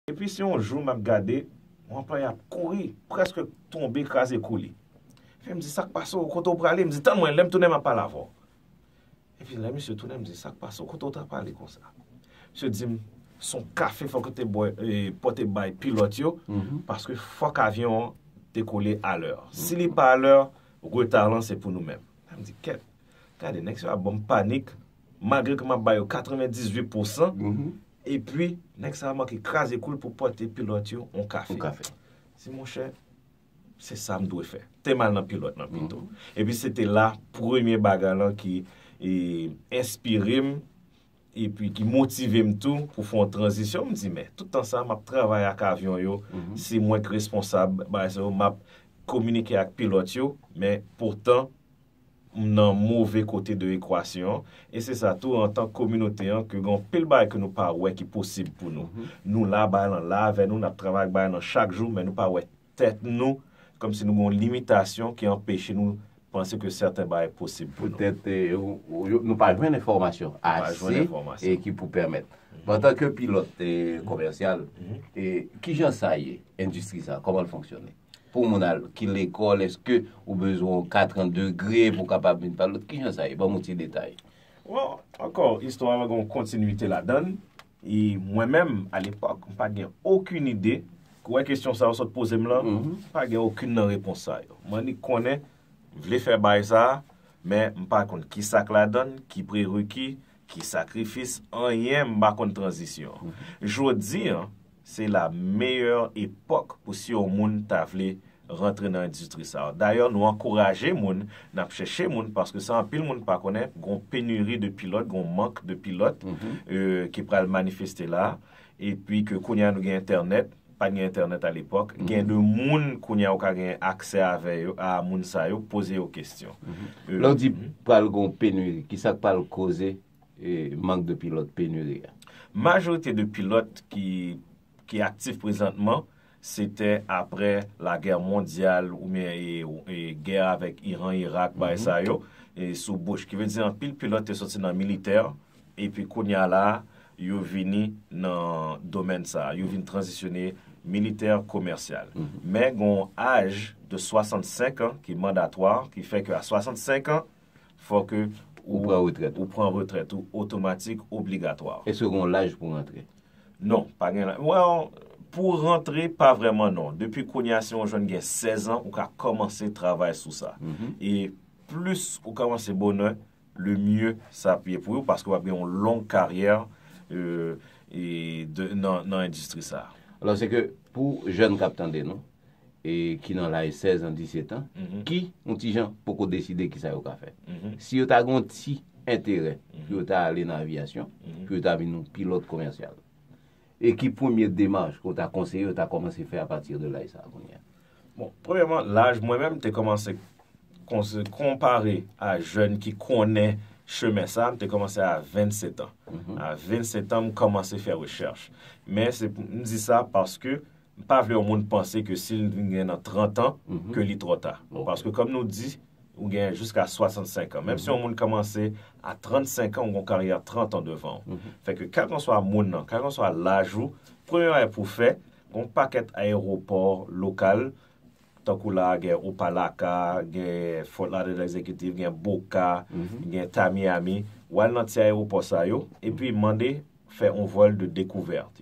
Epi se yon jou m ap gade, yon anplwaye ap kouri, prèske tonbe kraze kou li. Epi m di, sa k pase w, kote w prale? M di, tann mwen, lè m tounen m ap pale avè w. Epi lè misye tounen, m di, sa k pase w, kote w t ap ale konsa? Misye di m, s on kafe fò k w te bwè, pou w te bay pilòt yo, paske fòk avyon an dekole alè. Si li pa alè, reta lan se pou nou menm. Mwen m di, kèt, gade nèg sa yo ap ban m panik, malgre ke m ap ba yo 98 pou san, Epi nèg sa manke kraze kou l pou pote pilòt yo yon kafe. Di monchè, se sa m dwe fè. Te mal nan pilòt lan pito. Epi se te la premye bagay lan ki enspire m, epi ki motive m tou pou fè yon tranzisyon. M di men, tout tan sa m ap travay ak avyon yo, se mwen ki responsab bagay sa yo, m ap kominike ak pilòt yo, men poutan m nan move kote de ekwasyon an, e se sa tou antan kominote an ke gen anpil bagay ke nou pa wè ki posib pou nou. Nou la, bagay lan la avè nou, n ap travay ak bagay lan chak jou, men nou pa wè tèt nou kòm si nou gen yon limitasyon ki anpeche nou panse ke sèten bagay posib pou nou. Petèt nou pa jwenn enfòmasyon ase ki pou pèmèt. Men antanke pilòt komèsyal, kijan sa ye endistri sa, kòman l fonksyone? Pou moun al ki lekòl eske ou bezwen yon kat an degre pou kapab vin pale lòt kijan sa ye banm yon ti detay. Well ankò istwa a gon kontinite ladan l e mwen menm alepòk m pat gen okin ide ou wè kesyon sa ou sot poze m lan m pa gen okin nan repons sa yo m annik konnen m vle fè baay sa men m pa konn kisa k ladan l ki prereki ki sakrifis anyen m pa konn tranzisyon jodi an Se la meyè epòk pou si yon moun ta vle rantre nan endistri sa. Dayè nou ankouraje moun, n ap chèche moun paske sa anpil moun pa konnen, gon penuri de pilòt, gon mank de pilòt ki pral manifeste la. Epi ke kounye a nou gen entènèt, pat gen entènèt a lepòk, gen de moun kounye a ou ka gen aksè avè yo, a moun sa yo, poze yo kestyon. Lè w di pral gon penuri, ki sa k pral koze mank de pilòt, penuri a? Majorite de pilòt ki aktif prezantman se te apre lagè mondyal oubyen gè avèk Iran, Irak, bagay sa yo, sou Bush. Ki vle di anpil pilòt te soti nan militè epi kounye a la yo vini nan domèn sa a, yo vin tranzisyone militè, komèsyal. Men gen yon aj de 65 an ki mandatwa, ki fè ke a 65 an, fò ke ou pran retrèt ou pran retrèt ou otomatik obligatwa. Eske gen yon laj pou rantre? Non, pa gen laj. Well, pou rantre pa vrèman non. Depi kounye a si yon jèn gen 16 an, ou ka kòmanse travay sou sa. E plis ou kòmanse bonè, le mieux sa ap ye pou ou paske w ap gen yon long karyè nan endistri sa. Alò se ke pou jèn k ap tande nou, e ki nan laj 16 an, 17 an, ki, yon ti jan, poko deside ki sa yo ka fè. Si yo ta gen yon ti enterè pou yo ta ale nan aviyasyon, pou yo ta vin yon pilòt komèsyal, e ki premye demach ke w ta konseye yo ta kòmanse fè apati de laj sa a kounye a? Bon, premyèman, laj mwen menm te kòmanse konpare a jèn ki konnen chemen sa a, m te kòmanse a 27 an. A 27 an, m kòmanse fè rechèch. Men, m di sa paske M pa vle yon moun panse ke si l vin gen nan 30 an, ke li twò ta. Paske kòm nou di, ou gen jiska 65 an. Menm si yon moun kòmanse a 35 an, ou gen yon karyè 30 an devan ou. Fè ke kèlkanswa moun nan, kèlkanswa laj ou, premye bagay pou w fè, gen yon pakèt ayewopò lokal, tankou la a gen Opa-laka, gen Fort Lauderdale Executive, gen Boca, gen Tamiami, w al nan ti ayewopò sa yo, epi mande fè yon vòl de dekouvèt.